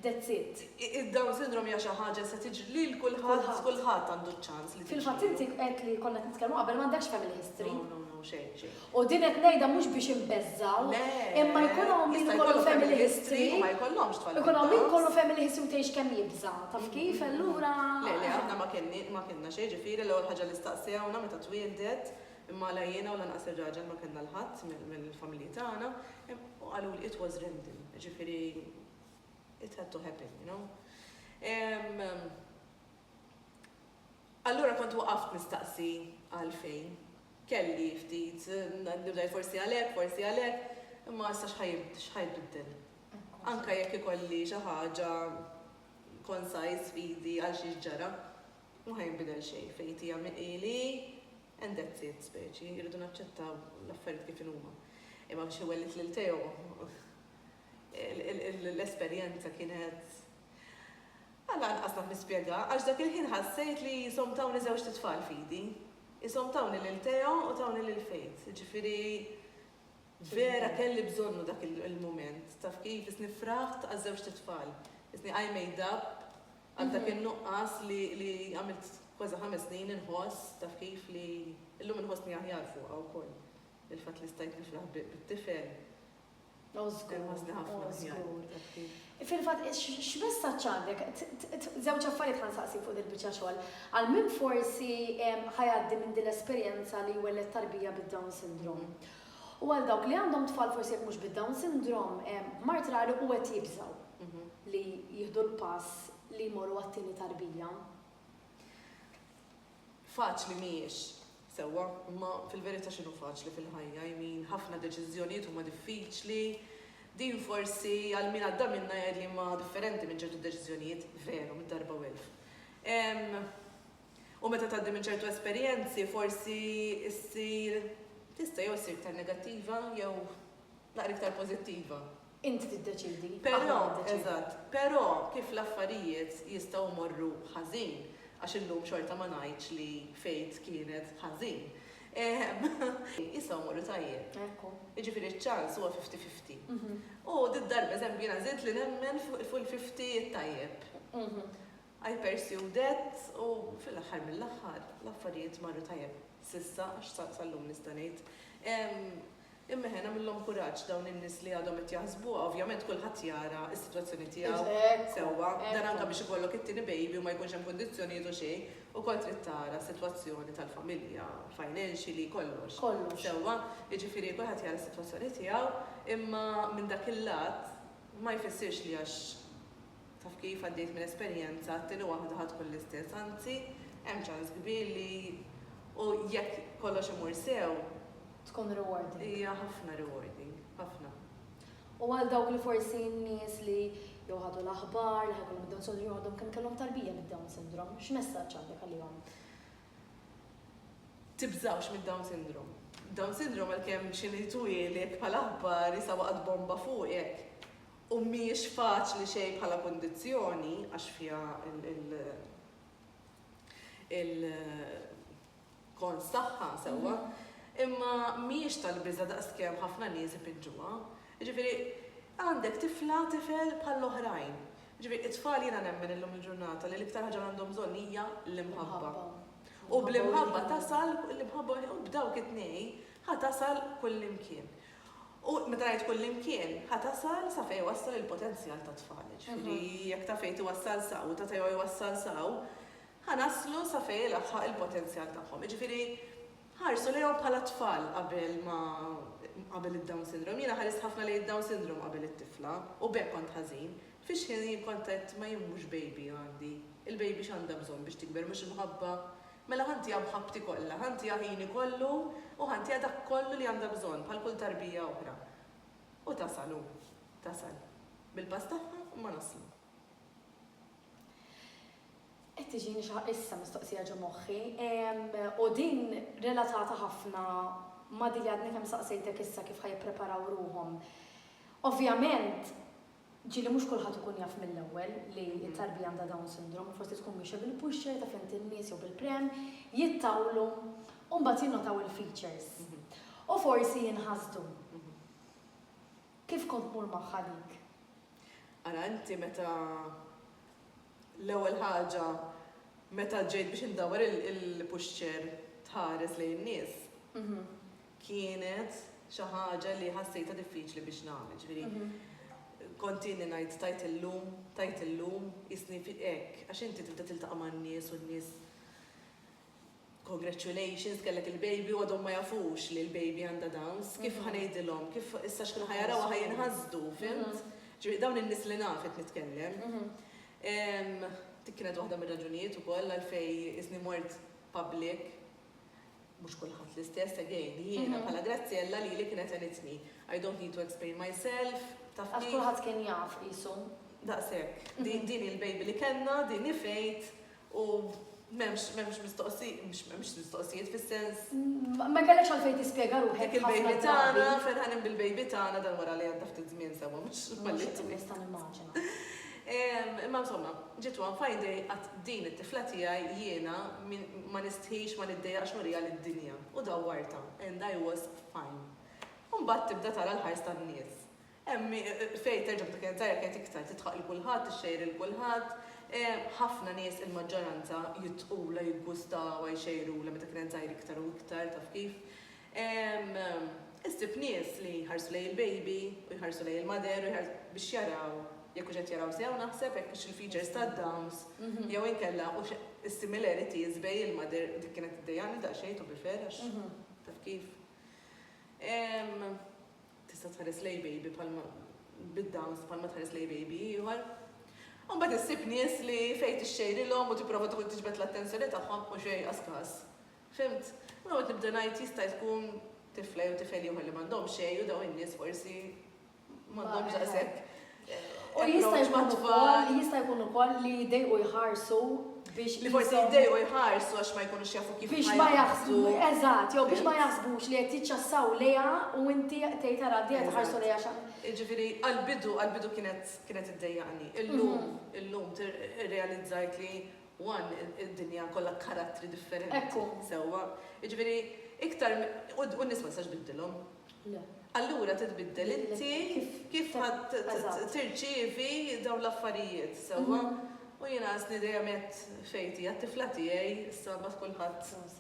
[SPEAKER 2] that's it. Id-Down syndrome hija
[SPEAKER 1] xi ħaġa li se tiġri lil kulħadd, kulħadd għandu ċ-ċans li tiġri. Fil-fatt inti qed li
[SPEAKER 2] konna qed nitkellmu qabel m'għandekx family history. No, no, no, xejn, xejn.
[SPEAKER 1] U din qed ngħidha
[SPEAKER 2] mhux biex inbeżżgħu, imma jkun hawn min ikollu family history,
[SPEAKER 1] ikun hawn min kollu family
[SPEAKER 2] history u tgħix kemm jibża', taf kif, allura. Le, le, aħna ma
[SPEAKER 1] kenni, ma kellna xejn, ġifieri l-ewwel ħaġa li staqsewna meta twieldet, imma la jiena u lanqas ir-raġel ma kellna l-ħadd mill-familji tagħna, u qaluli it was random, ġifieri it had to happen, you know. Allura kont waqaft nistaqsi għalfejn. Kelli ftit dubji forsi għal hekk, forsi għal hekk, imma issa x'ħa jbiddel? Anke jekk ikolli xi ħaġa concise f'idi għal xiex ġara, m'ha jinbidel xejn, fate hija min hi li hi and that's it, speċi, irridu naċċettaw l-affarijiet kif inhuma. Imma biex iwellit lil Teo. L-esperjenza kienet Għala anqas naf nispjega, għax dak il-ħin ħassejt li qishom tawni żewġt itfal f'idi. Qishom tawni lil Theo u tawni lil Faith. Jiġifieri vera kelli bżonnu dak il-mument. Taf kif, qisni fraħt għaż-żewġt itfal. Qisni I made up għal dak in-nuqqas li għamilt kważi ħames snin inħoss, taf kif, li llum inħossni aħjar fuqha wkoll. Il-fatt li stajt nifraħ bit-tifel. O żgur, o żgur.
[SPEAKER 2] Fil-fatt, x'messaġġ għandek? Żewġ affarijiet ħa nsaqsi fuq dil-biċċa xogħol. Għal min forsi ħajgħaddi minn din l-esperjenza li jwelled tarbija bid-Down syndrome. U għal dawk li għandhom tfal forsi jekk mhux bid-Down syndrome, mart rari u qed jibżgħu mhm. li jieħdu l-pass li jmorru għat-tieni tarbija.
[SPEAKER 1] Faċli mhijiex sewwa, imma fil-verità x'inhu faċli fil-ħajja? I mean, ħafna deċiżjonijiet huma diffiċli. Din forsi, għal min għadda minnha jgħid li ma differenti minn ċertu deċiżjonijiet, veru, mid-darba u elf. U meta tgħaddi minn ċertu esperjenzi forsi ssir tista' jew issir iktar negattiva jew naqra iktar pożittiva. Int tiddeċiedi,
[SPEAKER 2] aħna ma niddeċiedu. Eżatt.
[SPEAKER 1] Però kif l-affarijiet jistgħu jmorru ħażin, għax illum xorta ma ngħidx li Faith kienet ħażin, ehm, jistgħu jmorru tajjeb. Ekku. Jiġifieri ċ-ċans huwa fifty fifty. U did-darba, eżempju, jiena żidt li nemmen fil-fifty t-tajjeb. I pursued it u fil-aħħar mill-aħħar l-affarijiet marru tajjeb. S'issa, għax sal-lum nista' ngħid. Imma eħe, nagħmilhom kuraġġ dawn in-nies li għadhom qed jaħsbuha, ovvjament kulħadd jara s-sitwazzjoni tiegħu sewwa. Dan anke biex ikollok it-tieni baby u ma jkunx hemm kundizzjonijiet u xejn, ukoll trid tara s-sitwazzjoni tal-familja, financially, kollox. Kollox. Sewwa, jiġifieri kulħadd jara s-sitwazzjoni tiegħu, imma minn dak il-lat ma jfissirx li għax Taf kif, għaddiet minn esperjenza, t-tieni waħda ħa tkun l-istess, anzi, hemm ċans kbir li, u jekk kollox imur sew. Tkun
[SPEAKER 2] rewarding. Hija ħafna
[SPEAKER 1] rewarding, ħafna. U għal
[SPEAKER 2] dawk li forsi n-nies li jew ħadu l-aħbar li ħa jkollhom id-Down Syndrome jew għadhom kemm kellhom tarbija bid-Down Syndrome, x'messaġġ għandek għalihom?
[SPEAKER 1] Tibżgħux mid-Down Syndrome. Down Syndrome għalkemm xi nies tweliek bħala aħbar jisha waqgħet bomba fuqek, u mhijiex faċli xejn bħala kundizzjoni għax fiha l-kons tagħha sewwa, imma mhijiex tal-biża' daqskemm ħafna nies ipiġġuha. Jiġifieri, għandek tifla, tifel bħall-oħrajn. Jiġifieri, it-tfal jiena nemmen illum il-ġurnata li l-iktar ħaġa li għandhom bżonn hija l-imħabba. U bl-imħabba tasal, l-imħabba u b'dawk it-tnejn ħa tasal kullimkien. U meta ngħid kullimkien, ħa tasal sa fejn iwassal il-potenzjal tat-tfal. Jiġifieri jekk ta' fejn tiwassal sa u ta' fejn iwassal sa, ħa naslu sa fejn ilaħħaq il-potenzjal tagħhom. Jiġifieri ħarsu lejhom bħala tfal qabel ma qabel id-Down Syndrome. Jiena ħarist ħafna lejn id-Down Syndrome qabel it-tifla u b'hekk kont ħażin. Fix-xħin jien kont għedt ma jien mhux baby għandi. Il-baby x'għandha bżonn biex tikber mhux imħabba, Mela ħantiha mħabbti kollha, ħantiha ħini kollu u ħantiha dak kollu li għandha bżonn bħal kull tarbija oħra. U tasal hu. Tasal. Bil-pass tagħha imma naslu.
[SPEAKER 2] Qed tiġini xi issa mistoqsija ġo moħħi, u din relatata ħafna ma' dik li għadni kemm saqsejtek issa kif ħa jippreparaw ruħhom. Ovvjament, Ġieli mhux kulħadd ikun jaf mill-ewwel li t-tarbija għandha Down Syndrome u forsi tkun miexja bil-pusher ta' fehmti n-nies jew bil-pram, jittawlu u mbagħad jinnotaw il-features. U forsi jinħasdu. Kif kont tmur magħha dik? Ara
[SPEAKER 1] inti meta l-ewwel ħaġa meta ġejt biex indawwar il-pusher tħares lejn in-nies, kienet xi ħaġa li ħassejtha diffiċli biex nagħmel, ġifieri kont inni ngħid tajt illum, tajt illum, qisni hekk, għax inti tibda tiltaqa' man-nies u n-nies congratulations kellek il-baby u għadhom ma jafux li l-baby għandha Downs, kif ħa ngħidilhom, kif issa x'kien ħa jarawha ħa jinħasdu, fhimt? Ġifieri dawn in-nies li naf qed nitkellem. Dik kienet waħda mir-raġunijiet ukoll għalfejn qisni mort public Mhux kulħadd l-istess, again, jiena bħala Graziella lili kienet għenitni. I don't need to explain myself, taf kif. Għax kulħadd
[SPEAKER 2] kien jaf, qisu. Daqshekk.
[SPEAKER 1] Din hi l-baby li kellna, din hi fate u m'hemmx m'hemmx mistoqsijiet, mhux m'hemmx mistoqsijiet fis-sens. Ma kellekx
[SPEAKER 2] għalfejn tispjega ruħek. Dik il-baby tagħna,
[SPEAKER 1] ferħanin bil-baby tagħna dan wara li għadda ftit żmien sewwa, mhux. Mhux qed nista'
[SPEAKER 2] nimmaġina.
[SPEAKER 1] Imma insomma, ġiet one fine day qatt din it-tifla tiegħi jiena ma nistħix, ma niddejjaqx nuriha lid-dinja u dawwartha and I was fine. U mbagħad tibda tara l-ħars tan-nies. Hemm min, fejn terġa' b'dik l-enerġija jekk għedt iktar, tidħaq lil kulħadd, tixxejjer lil kulħadd. Ħafna nies, il-maġġoranza, jidħqulha, jiggustawha, jxejrulha meta kien qed tgħajr iktar u iktar, taf kif. Issib nies li jħarsu lejn il-baby u jħarsu lejn il-mother biex jaraw jekk hux qed jaraw sew naħseb, jekk hux il-features tad-downs jew inkella hux is-similarities bejn il-mother, dik kienet iddejjaqni daqsxejn to be fair għax taf kif. Tista' tħares lejn baby bħalma bid-downs bħalma tħares lejn baby ieħor. U mbagħad issib nies li fejn tixxejrilhom u tipprova tiġbed l-attenzjoni tagħhom u xejn qas każ. Fhimt? U noqgħod nibda ngħid jista' jkun tifla jew tifel ieħor li m'għandhomx xejn u dawn in-nies forsi m'għandhomx daqshekk
[SPEAKER 2] approach mat-tfal. Jista' jkun ukoll li jdejqu jħarsu biex. Li forsi
[SPEAKER 1] jdejqu jħarsu għax ma jkunux jafu kif ħa jaħarsu.
[SPEAKER 2] Eżatt, jew biex ma jaħsbux li qed jiċċassaw lejha u inti tgħid ara dejja tħarsu lejha x'ha. Jiġifieri għall-bidu,
[SPEAKER 1] għall-bidu kienet iddejjaqni. Illum, illum irrealizzajt li One, id-dinja kollha karattri differenti. Ekku. Sewwa. Jiġifieri, iktar mi, u, u n-nies ma tistax tbiddilhom. Le. Allura titbiddel inti Kif, kif ta- ħadd t- t- eżatt. tirċievi dawn l-affarijiet, sewwa? U jiena għażni dejjem għedt Fejti, għat-tifla tiegħi, issa mbagħad kulħadd Proset.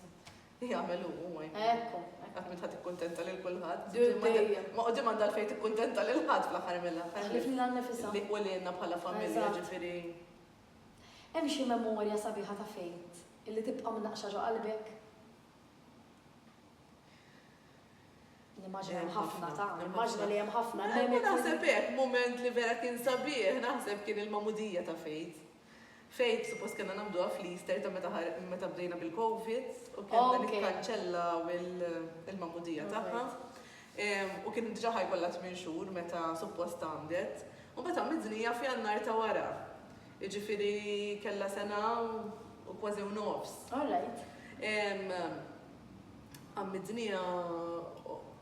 [SPEAKER 1] jagħmel hu, hu ma jmur. Ekku, ekku. Qatt
[SPEAKER 2] m'int ħa tikkuntenta
[SPEAKER 1] lil kulħadd. Dur Imma di- dejjem. ma quddiem għandha għalfejn tikkuntenta lil ħadd fl-aħħar mill-aħħar. Ħlief lilha nnifisha. Li,
[SPEAKER 2] u lilna bħala
[SPEAKER 1] familja, Eżatt. ġifieri.
[SPEAKER 2] Hemm xi memorja sabiħa ta' Faith illi tibqa' mnaqqxa ġo qalbek? Nimmaġina hemm ħafna ta', nimmaġina li hemm ħafna. Imma naħseb hekk,
[SPEAKER 1] mument li vera kien sabiħ, naħseb kien il-magħmudija ta' Faith. Faith suppost kellna nagħmluha fl-Easter ta' meta meta bdejna bil-COVID u kellna nikkanċellaw il-magħmudija tagħha. u kien diġà ħa jkollha tmien xhur meta suppost tgħammdet, u mbagħad għammiet żnija f'Jannar ta' wara, jiġifieri kellha sena u kważi u nofs. All right. Għammiet żnija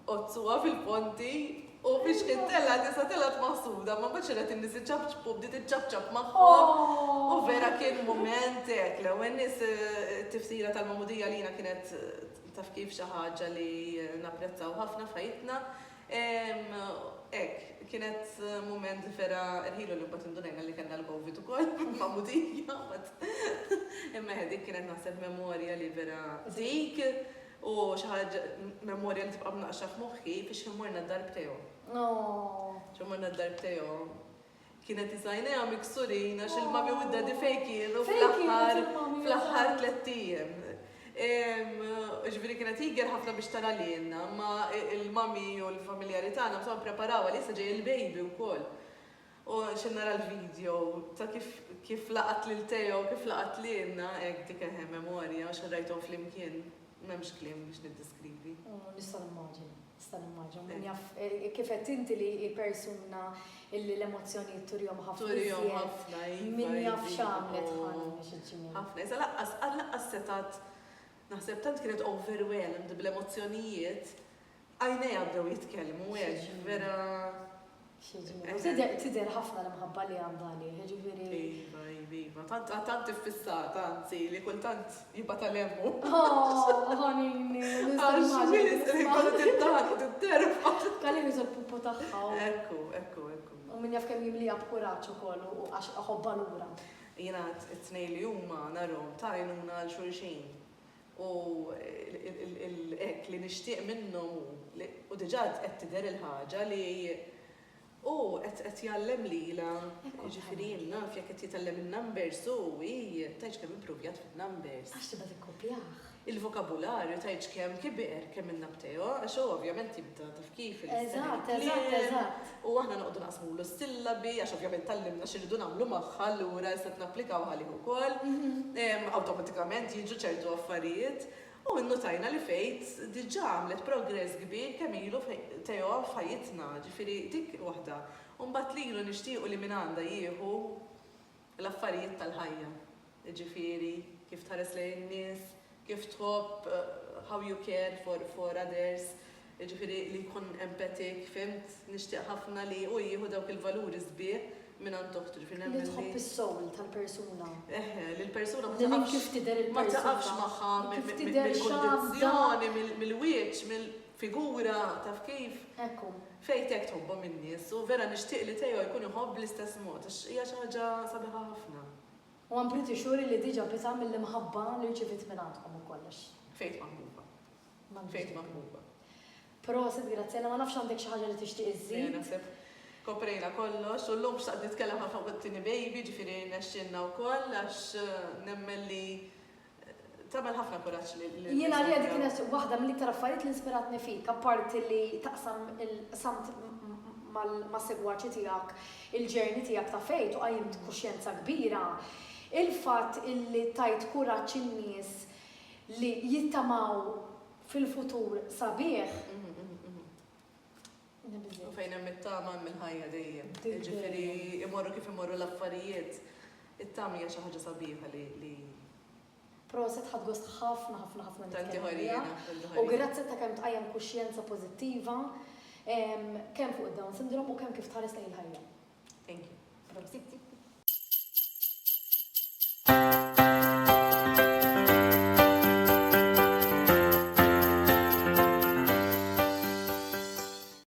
[SPEAKER 1] għozzuha fil-ponti u biex kien telgħet issa telgħet maħsuda, ma mbagħad xirqet in-nies iċapċpu u bdiet iċċapċap magħhom u vera kien mument hekk, l-ewwel nies it-tifsira tal-magħmudija għalina kienet Taf kif, xi ħaġa li napprezzaw ħafna f'ħajjitna. Hekk, kienet mument vera rħilu li mbagħad indunajna li kellna l-Covid ukoll fil-magħmudija mbagħad. Imma eħe, dik kienet naħseb memorja li vera dik u xi ħaġa, memorja li tibqa' mnaqqxa f'moħħi, fiex morna d-dar b'Teo. Morna d-dar b'Teo. Kienet iż-żgħajnejha miksurin għax il-mami u d-daddy fejn kienu fl-aħħar fl-aħħar tliet ijiem. Ġifieri kienet tiger ħafna biex tara lilna, ma il-mami u l-familjari tagħna bżonn preparawha li issa ġej il-baby wkoll. U xi nara l-video ta' kif kif laqat lil Teo, kif laqat lilna, hekk dik eħe memorja għax rajthom flimkien m'hemmx kliem biex niddiskrivi. Nista' nimmaġina.
[SPEAKER 2] Nista' nimmaġina, min jaf, kif qed inti li hi persuna illi l-emozzjonijiet turihom ħafna. Turihom ħafna, iva. Min jaf iva, x'għamlet iva. ħana biex iġġimgħu. Ħafna, iżda laqqas,
[SPEAKER 1] laqqas setat, naħseb tant kienet overwhelmed bl-emozzjonijiet, għajnejha bdew jitkellmu, hekk, vera. Xieġilu,
[SPEAKER 2] tidher ħafna l-imħabba li għandha għalih, jiġifieri. Iva, iva, iva,
[SPEAKER 1] tant, tant iffissata, anzi, li kultant jibgħat għal emmu. Oh,
[SPEAKER 2] ħanini, Kalli niżu l-pupu tagħha. Ekku, ekku,
[SPEAKER 1] ekku. U min jaf kemm
[SPEAKER 2] jimlija b'kuraġġ ukoll u għax iħobbha lura. Jiena
[SPEAKER 1] t-tnejn li huma narhom ta' għajnuna għal xulxin. U hekk li nixtieq minnhom hu li, u diġà qed tidher il-ħaġa li hu qed jgħallem lilha, jiġifieri jien naf jekk qed jitgħallem in-numbers hu, hi, tgħidx kemm ippruvjat fin-numbers. Għax tibgħa tikkopjah.
[SPEAKER 2] Il-vokabularju
[SPEAKER 1] tgħidx kemm kibier, kemm il-nabteo, għax hu ovvjament jibda. Kif il-istema tal-kliem,
[SPEAKER 2] u aħna noqogħdu
[SPEAKER 1] naqsmulu s-sillabi għax ovvjament tgħallimna x'irridu nagħmlu magħha, allura issa qed napplikawha għalih ukoll. Awtomatikament jiġu ċertu affarijiet. U nnutajna li Faith diġà għamlet progress kbir kemm ilu Theo f'ħajjitna, ġifieri dik waħda. U mbagħad lilu nixtiequ li mingħandha jieħu l-affarijiet tal-ħajja, jiġifieri kif tħares lejn in-nies, kif tħobb, how you care for for others, jiġifieri li jkun empathetic, fhimt? Nixtieq ħafna li hu jieħu dawk il-valuri sbieħ mingħand oħtu, ġifieri nemmen li. Li tħobb is-soul
[SPEAKER 2] tal-persuna. Eħe, li l-persuna
[SPEAKER 1] ma taqafx. Li kif tidher il-persuna.
[SPEAKER 2] Ma taqafx magħha
[SPEAKER 1] mill-kundizzjoni, mill-wieċ, mill-figura, taf kif? Ekku. Fejth
[SPEAKER 2] hekk tħobbhom
[SPEAKER 1] in-nies u vera nixtieq li Theo jkun iħobb bl-istess mod għax hija xi ħaġa sabiħa ħafna. U I'm pretty
[SPEAKER 2] sure li diġa pisa mill-imħabba li rċiviet minn għandkom u kollox. Fejth maħbuba.
[SPEAKER 1] Fejth maħbuba. Prosit
[SPEAKER 2] Graziella, ma nafx għandek xi ħaġa li tixtieq iżżid? Le naħseb koprejna
[SPEAKER 1] kollox u llum xtaqt nitkellem ħafna fuq it-tieni baby ġifieri rnexxielna wkoll għax nemmen li Tagħmel ħafna kuraġġ li. Jien għalija dik kienet
[SPEAKER 2] waħda mill-iktar affarijiet li inspiratni fik, apparti li taqsam il-qsamt mas-segwaċi tiegħek il-journey tiegħek ta' faith u qajjimt kuxjenza kbira, il-fatt illi tajt kuraġġ in-nies li jittamaw fil-futur sabiħ.
[SPEAKER 1] U fejn hemm it-tama hemm il-ħajja dejjem. Jiġifieri imorru kif imorru l-affarijiet, it-tama hija xi ħaġa sabiħa li.
[SPEAKER 2] Proset ħadt gost ħafna ħafna ħafna nitkellem miegħek.
[SPEAKER 1] U grazzi ta'
[SPEAKER 2] kemm tqajjem kuxjenza pożittiva kemm fuq id-Down Syndrome u kemm kif tħares lejn il-ħajja.
[SPEAKER 1] Thank
[SPEAKER 2] you. Prosit.